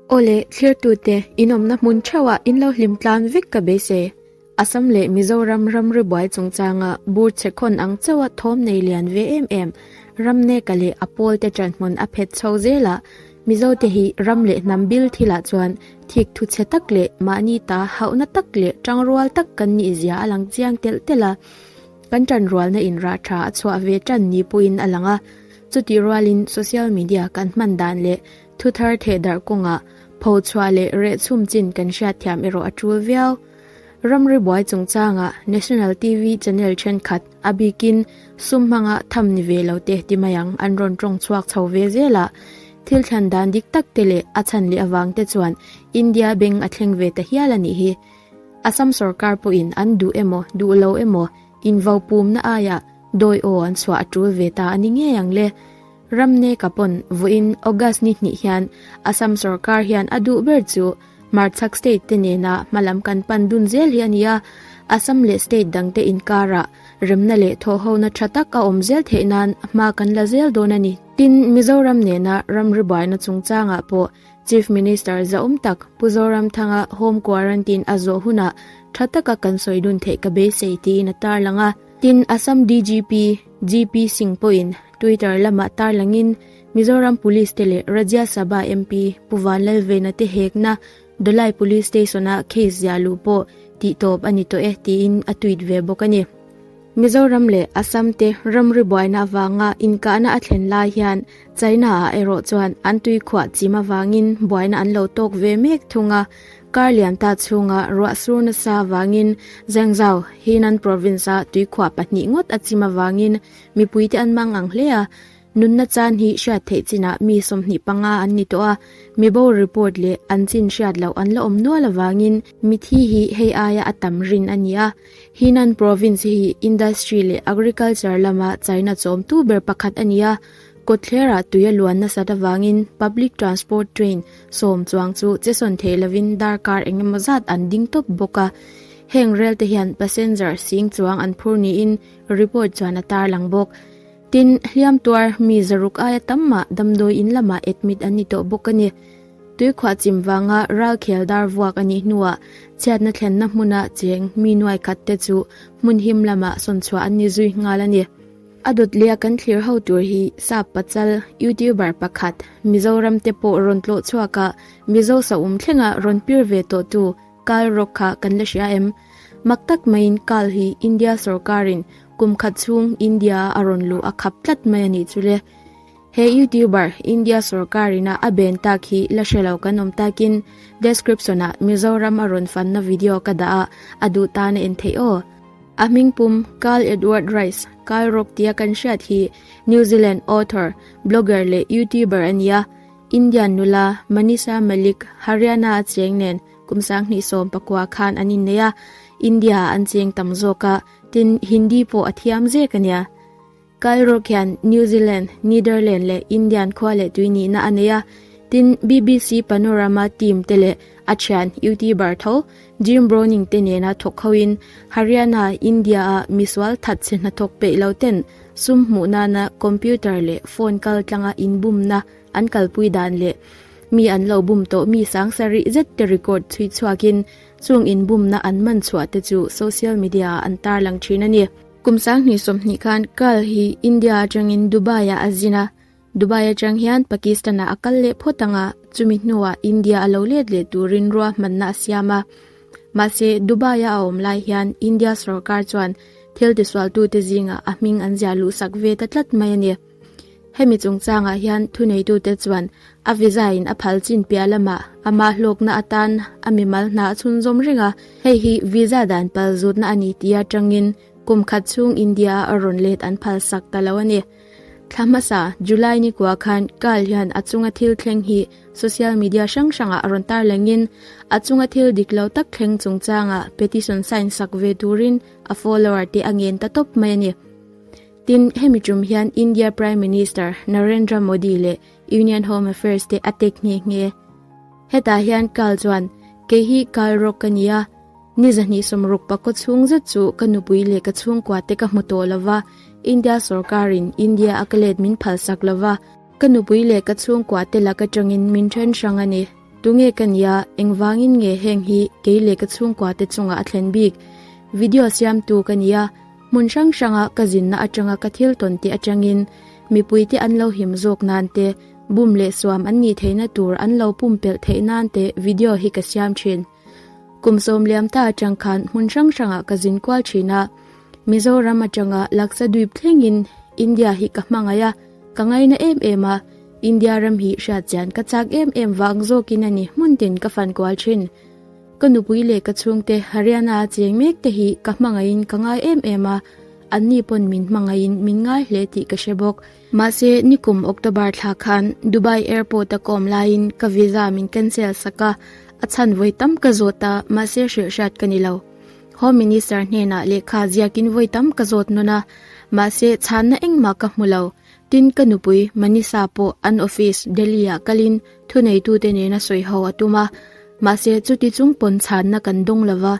Aw le, thirtute, in awmna hmun theuhah in lo hlim tlan vek ka be se. Assam leh Mizoram ram ribuai chungchanga bur che khawn ang chauha thawm nei lian ve em em. Ram neka leh a pawl te tanhmun a phet chho zel a. Mizo te hi ram leh hnam bil thil ah chuan thik thu che tak leh mahni ta hauhna tak leh tang rual tak kan nih zia a lang chiang telh telh a. Kan tan rualna in rah tha a chhuah ve tan ni pawhin a lang a. Chutih rualin social media kan hman dan leh thu thar theh darh kawnga pho chhuah leh reh chhum chin kan hriat thiam erawh a tul viau. Ramri buai chungchangah National TV channel thenkhat a bikin sum hmanga tham ni ve lo te ti mai ang an rawn tawng chhuak chho ve zel a. Thil thlan dan dik tak te leh a chhan leh avang te chuan India beng a thleng ve ta hial a nih hi. Assam sorkar pawhin an duh emaw duh lo emaw Invaupumna aiah dawi aw an chhuah a tul ve ta a ni ngei ang le. Ram neka pawn vuahin August ni hnih hian Assam sorkar hian a duh ber chu hmarchhak state te nena hma lam kan pan dun zel hi a ni a. Assam leh state dang te inkarah remna leh thawhhona tha tak a awm zel theih nan hma kan la zel dawn a ni. Tin Mizoram nena ram ri buaina chungchangah pawh Chief Minister zaum tak Pu Zoramthanga home quarantine a zawh hunah tha taka kan sawi dun theih ka beisei tiin a tarlang a. Tin, Assam DGP GP Singh pawhin Twitter lamah tarlangin Mizoram Police te leh Rajya Sabha MP Pu Vanlalveina te hekna Dawlai Police Station-ah case ziah luh pawh tihtawp a ni tawh e tiin a tweet ve bawk a ni. Mizoram leh Assam te ramri buaina avanga inkahna a thlen lai hian China ah erawh chuan an tuikhuah chim avangin buaina an lo tawk ve mek thung a. Kar lian ta chhunga ruah sur nasa avangin Zhengzhou, Henan Province, a tuikhuah pahnih ngawt a chim avangin mipuite an mang ang hle a. Nunna chan hi hriat theih chinah mi sawmhnih panga an ni tawh a, mibo report leh an chin hriat loh an la awm nual avangin mithi hi hei aia a tam rin a ni a. Henan Province hi industry leh agriculture lama chaina chawmtu ber pakhat a ni a, kawtthlerah tui a luan nasat avangin public transport train sawm chuang chu che sawn theih lovin darkar eng emaw zat an ding tawp bawk a. Heng relte hian passenger sing chuang an phur niin report chuan a tarlang bawk. Tin, hliamtuar mi zaruk aia tam mah damdawi in lamah admit an ni tawh bawk a ni. Tuikhuah chim vanga ralkhel dar vuak a nih hnuah chhiatna thlenna hmuna cheng mi nuai khat te chu hmun him lamah sawn chhuah an ni zui nghal a ni. A dawtliaa kan thlir ho tur hi sap pachal youtuber pakhat Mizoram te pawh rawn tlawh chhuak a Mizo sahum thlengah rawn pir ve tawhtu Kal rawk kha kan la hria em? Mak tak maiin kal hi India sorkarin kum khat chhung India a rawn luh a khap tlat mai a nih chu le. He youtuber India sorkarin a a ben tak hi la hre lo kan awm takin description ah Mizoram a rawn fanna video ka dah a, a duh tan a en theih aw. A hming pum Carl Edward Rice, Kal rawk tia kan hriat hi New Zealand author, blogger leh youtuber a ni a. Indian nula Manisha Malik Haryana a cheng nen kum sang hnih sawm pakua khan an innei a, India ah an cheng tam zawk a, tin, Hindi pawh a thiam zek a nia. Kal rawk hian New Zealand, Netherland leh Indian khua leh tui nihna a nei a, tin, bbc Panorama team te leh a thian youtuber tho Jim Browning te nena thawk khoin Haryana, India ah misual that chhe hna thawk peih lo ten sum hmuh nana computer leh phone kal tlanga inbumna an kalpui dan leh mi an lo bum tawh mi sangsa rih zet te record chhui chhuak in chung inbumna an man chhuah te chu social media ah an tar lang thin a ni. Kum Sang hnih sawmhnih khan Karl hi India atangin Dubai ah a zin a. Dubai atang hian Pakistan-a a kal leh phawt ang a, chumi hnuah India a lo let leh turin ruahmanna a siam a. Mahse, Dubai-a a awm lai hian India sorkar chuan thil tisualtute zingah a hming an ziah luhsak ve ta tlat mai a ni. Hemi chungchangah hian thuneitute chuan a visa-in a phal chin piah lamah a mah hlawkna atan a mimal hna a chhunzawm reng a. Hei hi visa dan pal zutna a ni tia tangin kum khat chhung India-a a rawn let an phal sak ta lo a ni. Thla hmasa, July ni kua khan Carl hian a chunga thil thleng hi social media hrang hrangah a rawn tarlengin a chunga thil dik lo tak thleng chungchanga petition sign sak ve turin a follower te a ngen ta tawp mai a ni. Tin, hemi tum hian India Prime Minister Narendra Modi leh Union Home Affairs te a tek nghe nghe. Hetah hian Carl chuan, Kei hi Carl rawk ka nia, Ni zahnih sawm ruk pakua chhung zet chu ka nupui leh ka chhungkua te ka hmu tawh lo va, India sorkarin India a ka let min phalsak lo va, ka nupui leh ka chhungkua te lak atangin min then hrang a ni. Tunge ka nia, engvangin nge heng hi kei leh ka chhungkua te chungah a thlen bik? Video siamtu ka nia, hmun hrang hranga ka zinna atanga ka thil tawn teh atangin mipuite an lo him zawk nan te, bum leh suam an nih theihna tur an lo pumpelh theih nan te video hi ka siam thin. Kum sawmliam ta atang khan hmun hrang hrangah ka zin kual thin a. Mizoram atanga laksa duip thlengin India hi ka hmangaih a, ka ngaina em em a. India ram hi hriat chian ka chak em em vang zawkin a ni hmun tin ka fan kual thin. Ka nupui leh ka chhungte Haryana a chiang mek te hi ka hmangaihin ka ngai em em a, anni pawn min hmangaihin min ngai hle tih ka hre bawk. Mahse, nikum October thla khan Dubai Airport a kawm laiin ka visa min cancel sak a, a chhanvawi tam ka zawt a, mahse hrilh hriat ka ni lo. Home Minister hnenah lehkha ziakin vawi tam ka zawt nawn a, mahse chhanna engmah ka hmu lo. Tin, ka nupui Manisa pawh an office Delhi-ah kalin thuneitute nena sawi ho a tum a, mahse chuti chung pawn chhanna kan dawng lo va,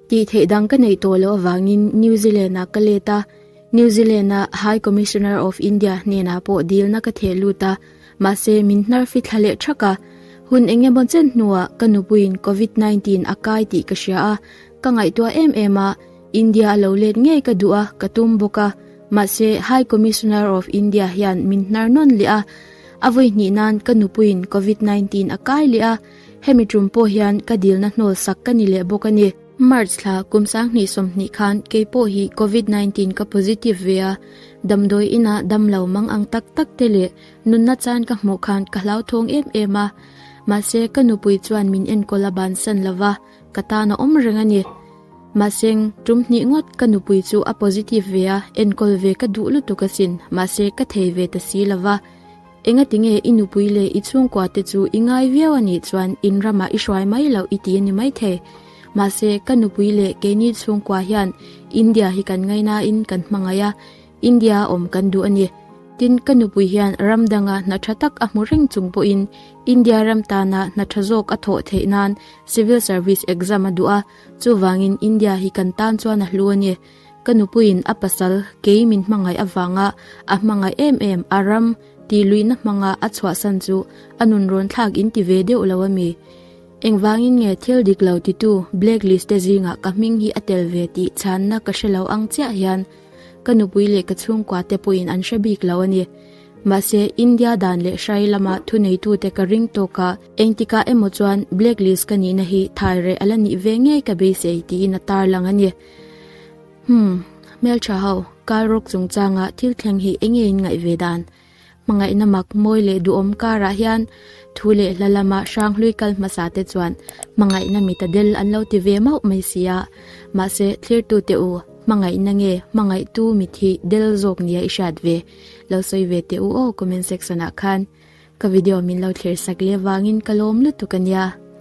tih theih dang ka neih tawh loh avangin New Zealand-ah ka let a. New Zealand-a High Commissioner of India hnenah pawh dilna ka theh lut a, mahse min hnarfi thla leh thak a. Hun eng emaw chen hnuah ka nupuiin Covid nineteen a kai tih ka hria a, ka ngaihtuah em em a, India a lo let ngei ka duh a, ka tum bawk a. Mahse High Commissioner of India hian min hnar nawn leh a, a vawi hnih nan ka nupuiin Covid nineteen a kai leh a, hemi tum pawh hian ka dilna hnawlsak ka ni leh bawk a ni. March thla kum sanghnih sawmhnih khan kei pawh hi Covid nineteen ka positive ve a, damdawi inah damlo mang ang tak tak te leh nunna chan ka hmuh khan ka hlauthawng em em a, mahse ka nupui chuan min enkawl a bansan lo va, ka tan a awm reng a ni. Mahse tum hnih ngawt ka nupui chu a positive ve a, enkawl ve ka duh lutuk asin, mahse ka thei ve ta si lo va. Enga tinge i nupui leh i chhungkua te chu i ngai viau a nih chuan in ramah i hruai mai lo i ti a ni maithei. Mahse, ka nupui leh keini chhungkua hian India hi kan ngaina in kan hmangaih a, India a awm kan duh a ni. Tin, ka nupui hian ram danga hna tha tak a hmu reng chung pawhin India ram tana hna tha zawk a thawh theih nan Civil Service Exam a duh a, chuvangin India hi kan tan chuan a hlu a ni. Ka nupuiin a pasal kei min hmangaih avanga a hmangaih em em a ram tih luihna hmanga a chhuahsan chu a nun rawn thlak in ti ve deuh lo a mi? Engvangin nge thil dik lo titu blacklist te zingah ka hming hi a tel ve tih chhanna ka hre lo ang chiah hian ka nupui leh ka chhungkua te pawhin an hre bik lo a ni. Mahse, India dan leh hrai lama thuneitute ka ring tawka engtikah emaw chuan blacklist ka nihna hi thaireh a la nih ve ngei ka beisei tiin a tarlang a ni. Hum, Hmeltha ho, kal rawk chungchangah thil thleng hi enge in ngaih ve dan? Hmangaihna mak mawi leh duhawm karah hian thu leh hla lama hrang hlui kal hmasa te chuan hmangaihna mi ta del an lo ti ve mauh mai si a, mahse thlirtu teh u, hmangaihna nge hmangaihtu mit hi del zawk nia i hriat ve? Lo sawi ve teh u aw comment section ah khan ka video min lo thlir sak leh vangin ka lawm lutuk a nia.